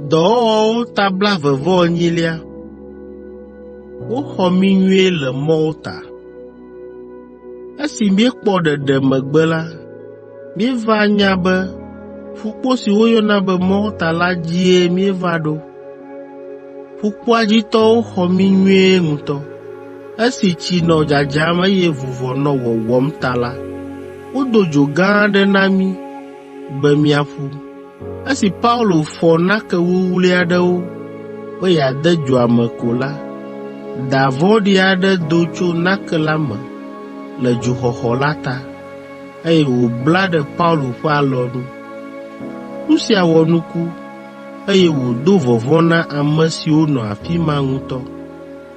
Dɔwɔwɔwo ta blaeve-vɔ-enyilia. Woxɔ mí nyuie le Malta. Esi míekpɔ ɖeɖe megbe la, míeva nya be ƒukpo si woyɔna be Malta la dzie míeva ɖo. Ƒukpoa dzi tɔwo xɔ mí nyuie ŋutɔ. Esi tsi nɔ dzadzam eye vuvɔ nɔ wɔwɔm ta la, wodo dzo gã aɖe na mí be míaƒu. Esi Paulo fɔ nake wuwlui aɖewo be yeade dzoa me ko la, da vɔ̃ɖi aɖe do tso nake la me le dzoxɔxɔ la ta, eye wòbla ɖe Paulo ƒe alɔnu. Nu sia wɔ nuku, eye wòdo vɔvɔ̃ na ame siwo nɔ afi ma ŋutɔ.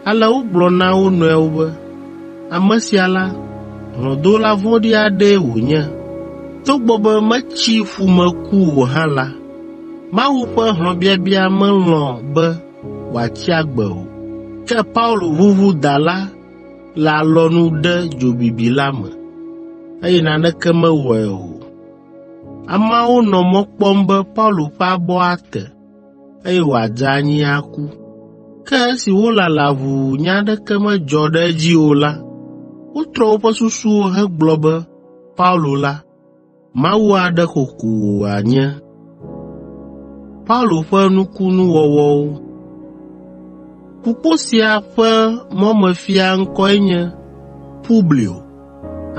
Ale wogblɔ na wo nɔewo be, “Ame sia la, hlɔ̃dola vɔ̃ɖi aɖee wònye. Togbɔ be metsi ƒu me ku o hã la, Mawu ƒe hlɔ̃biabia melɔ̃ be wòatsi agbe o.” Ke Paulo ʋuʋu da la le alɔnu ɖe dzobibi la me, eye naneke mewɔe o. Ameawo nɔ mɔ kpɔm be Paulo ƒe abɔ ate, eye wòadze anyi aku. Ke esi wolala ʋuu nya aɖeke medzɔ ɖe edzi o la, wotrɔ woƒe susuwo hegblɔ be Paulo la, mawu aɖe xoxo wòanye. Ƒukpo sia ƒe mɔmefia ŋkɔe nye Publio.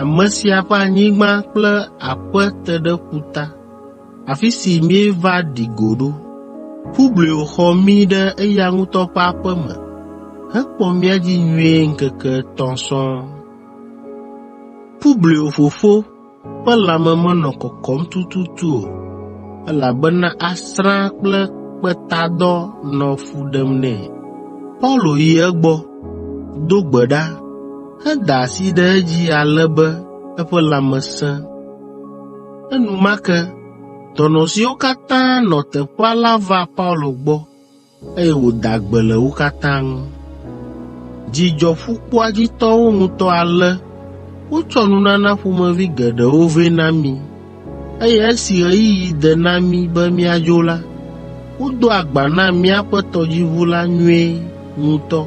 Ame sia ƒe anyigba kple aƒe te ɖe ƒuta, afi si míeva ɖi go ɖo. Publio xɔ mí ɖe eya ŋutɔ ƒe aƒe me hekpɔ mía dzi nyuie ŋkeke etɔ̃ sɔŋ. Publio fofo ƒe lãme menɔ kɔkɔm tututu o, elabena asrã kple kpetadɔ nɔ fu ɖem nɛ. Paulo yi egbɔ, do gbe ɖa, Eda asi ɖe edzi ale be eƒe lãme sẽ. Enumake dɔnɔ siwo katã nɔ teƒea la va Paulo gbɔ, eye wòda gbe le wo katã ŋu. Dzi dzɔ ƒukpoa dzi tɔwo ŋutɔ ale wotsɔ nunana ƒomevi geɖewo vɛ na mí. eye esi ɣeyiɣi de na mí be míadzo la, wodo agba na míaƒe tɔdziʋu la nyuie ŋutɔ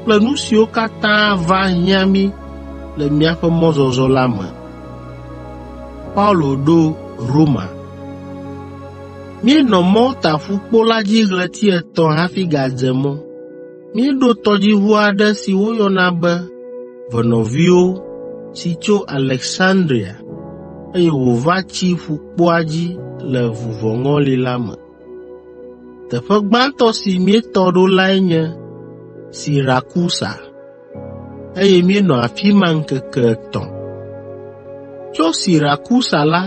kple nu siwo katã va hiã mí le míaƒe mɔzɔzɔ la me. Míenɔ Malta ƒukpo la dzi ɣleti etɔ̃ hafi gadze mɔ. Míeɖo tɔdziʋu aɖe si woyɔna be Ʋe Nɔviwo si tso Aleksandria, eye wòva tsi ƒukpoa dzi le vuvɔŋɔli la me. Teƒe gbãtɔ si míetɔ ɖo lae nye Sirakusa, eye míenɔ afi ma ŋkeke etɔ̃. Tso Sirakusa la,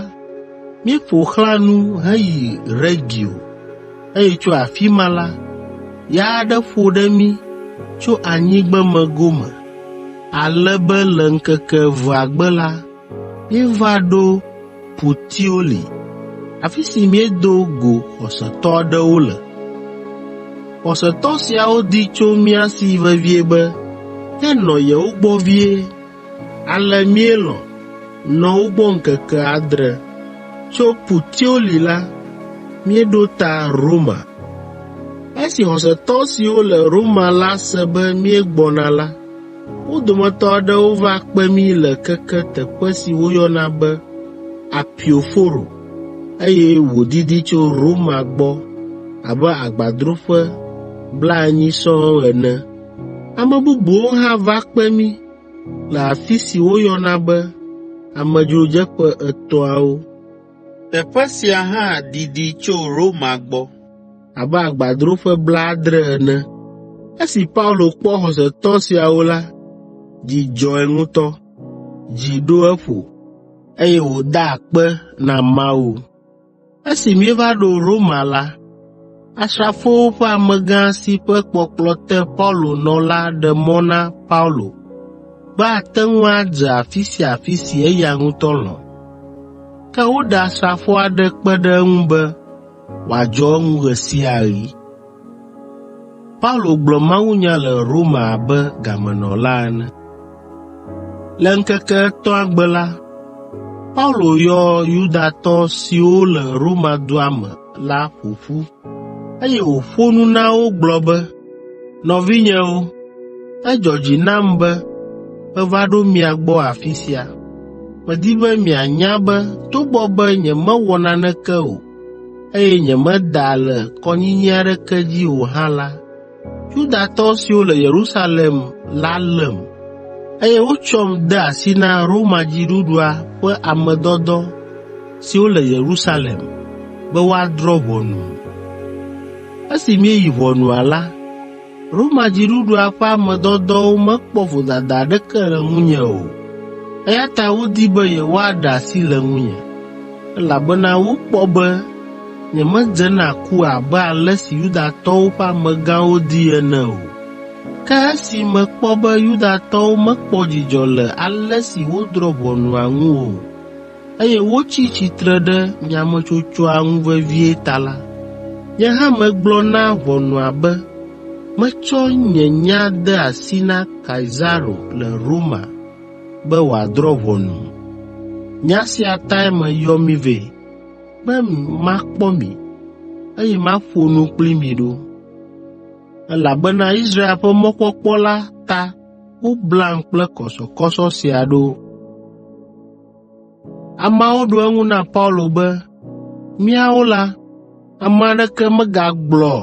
míeƒo xlã nu heyi Regio, eye tso afi ma la, ya aɖe ƒo ɖe mí tso anyigbeme gome, ale be le ŋkeke evea gbe la, míeva ɖo Putioli, afi si míedo go xɔsetɔ aɖewo le. Xɔsetɔ siawo di tso mía si vevie be míanɔ yewo gbɔ vie, Ale míelɔ̃ nɔ wo gbɔ ŋkeke adre. Tso Putioli la, míeɖo ta Roma. Esi xɔsetɔ siwo le Roma la se be míegbɔna la, wo dometɔ aɖewo va kpe mí le keke teƒe si woyɔna be Apio Foro, eye wòdidi tso Roma gbɔ abe agbadroƒe blaenyi sɔŋ ene. Ame bubuwo hã va kpe mí le afi si woyɔna be Amedzrodzeƒe Etɔ̃awo. Teƒe sia hã didi tso Roma gbɔ abe agbadroƒe blaadre ene. Esi Paulo kpɔ xɔsetɔ siawo la, dzi dzɔe ŋutɔ, dzi ɖo eƒo, eye wòda akpe na Mawu. Esi míeva ɖo Roma la, asrafowo ƒe amegã si ƒe kpɔkplɔ te Paulo nɔ la ɖe mɔ na Paulo be ate ŋu adze afi sia afi si eya ŋutɔ lɔ̃. Ke woɖe asrafo aɖe kpe ɖe eŋu be wòadzɔ eŋu ɣe sia ɣi. Paulo gblɔ mawunya le Roma abe gamenɔla ene. Le ŋkeke etɔ̃a gbe la, Paulo yɔ Yudatɔ siwo le Roma dua me la ƒo ƒu, eye wòƒo nu na wo gblɔ be, “Nɔvinyewo, edzɔ dzi nam be meva ɖo mia gbɔ afi sia. Medi be mianya be togbɔ be nyemewɔ naneke o, eye nyemeda le kɔnyinyi aɖeke dzi o hã la, Yudatɔ siwo le Yerusalem la lém, eye wotsɔm de asi na Roma dziɖuɖua ƒe ame dɔdɔ siwo le Yerusalem be woadrɔ̃ ʋɔnum. Esi míeyi ʋɔnua la, Roma dziɖuɖua ƒe ame dɔdɔwo mekpɔ vodada aɖeke le ŋunye o, eya ta wodi be yewoaɖe asi le ŋunye, elabena wokpɔ be nyemedze na ku abe ale si Yudatɔwo ƒe amegãwo di ene o. Ke esi mekpɔ be Yudatɔwo mekpɔ dzidzɔ le ale si wodrɔ̃ ʋɔnua ŋu o, eye wotsi tsitre ɖe nyametsotsoa ŋu vevie ta la, nye hã megblɔ na ʋɔnua be metsɔ nye nya de asi na Kaisaro le Roma be wòadrɔ̃ ʋɔnum. Nya sia tae meyɔ mi vɛ, be makpɔ mi, eye maƒo nu kpli mi ɖo. Elabena Israel ƒe mɔkpɔkpɔ la ta woblam kple kɔsɔkɔsɔ sia ɖo. Ameawo ɖo eŋu na Paulo be, “Míawo la, ame aɖeke megagblɔ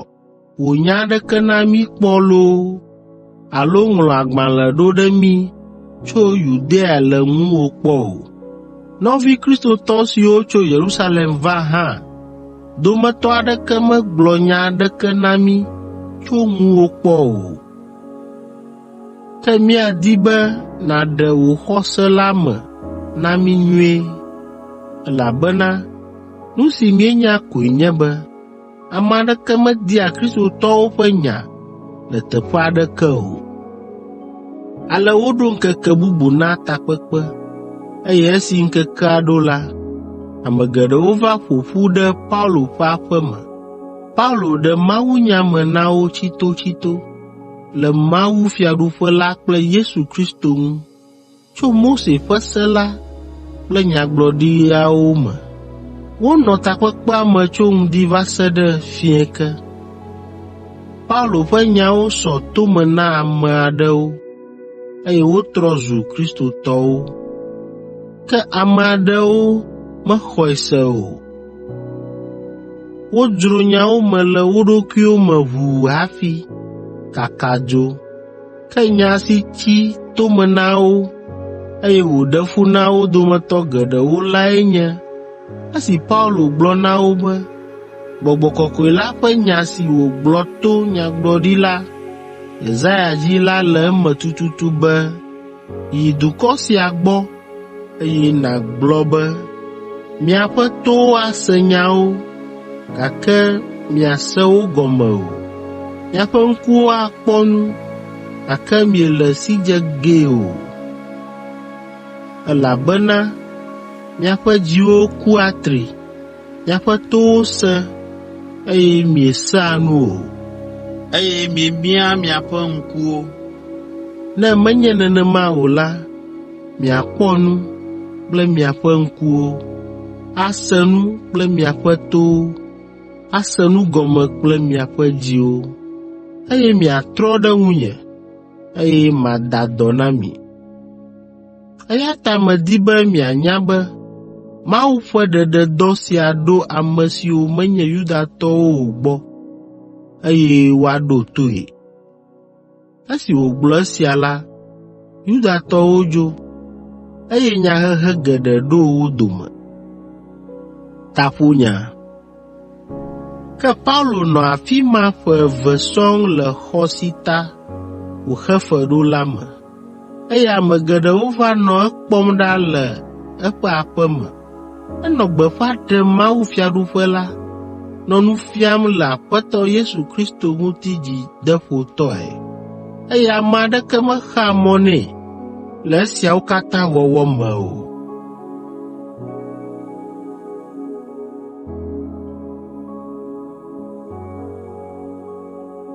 wò nya aɖeke na mí kpɔ loo alo ŋlɔ agbalẽ ɖo ɖe mí tso Yudea le ŋuwò kpɔ o. Nɔvi Kristotɔ siwo tso Yerusalem va hã dometɔ aɖeke megblɔ nya aɖeke na mí tso ŋuwò kpɔ o. Ke míadi be nàɖe wò xɔse la me na mí nyuie, elabena nu si míenya koe nye be ame aɖeke media Kristotɔwo ƒe nya le teƒe aɖeke o.” Ale woɖo ŋkeke bubu na takpekpe, eye esi ŋkekea ɖo la, ame geɖewo va ƒo ƒu ɖe Paulo ƒe aƒe me. Paulo ɖe mawunya me na wo tsitotsito, le Mawu Fiaɖuƒe la kple Yesu Kristo ŋu, tso Mose ƒe se la kple nyagblɔɖiawo me. Wonɔ takpekpea me tso ŋdi va se ɖe fiẽ ke. Paulo ƒe nyawo sɔ to me na ame aɖewo. eye wotrɔ zu Kristotɔwo. Ke ame aɖewo mexɔe se o. Wodzro nyawo me le wo ɖokuiwo me ʋuu hafi kaka dzo. Ke nya si tsi to me na wo, eye wòɖe fu na wo dometɔ geɖewo lae nye esi Paulo gblɔ na wo be gbɔgbɔ kɔkɔe la ƒe nya si wògblɔ to nyagblɔɖila Yesaya dzi la le eme tututu be, “Yi dukɔ sia gbɔ, eye nàgblɔ be, ‘Miaƒe towo ase nyawo, gake miase wo gɔme o. Miaƒe ŋkuwo akpɔ nu, gake miele esidze gee o, elabena miaƒe dziwo ku atri. Miaƒe towo sẽ, eye miesea nu o, eye miemia miaƒe ŋkuwo. Ne menye nenema o la, miakpɔ nu kple miaƒe ŋkuwo, ase nu kple miaƒe towo, ase nu gɔme kple miaƒe dziwo, eye miatrɔ ɖe ŋunye, eye mada dɔ na mi. Eya ta medi be mianya be Mawu ƒe ɖeɖedɔ sia ɖo ame siwo menye Yudatɔwo o gbɔ, eye woaɖo toe.” Esi wògblɔ esia la, Yudatɔwo dzo, eye nyahehe geɖe ɖo wo dome. Ke Paulo nɔ afi ma ƒe eve sɔŋ le xɔ si ta wòxe fe ɖo la me. eye ame geɖewo va nɔ ekpɔm ɖa le eƒe aƒe me. Enɔ gbeƒã ɖem mawufiaɖuƒe la, nɔ nu fiam le Aƒetɔ Yesu Kristo ŋuti dzideƒotɔe, eye ame aɖeke mexaa mɔ nɛ le esiawo katã wɔwɔ me o.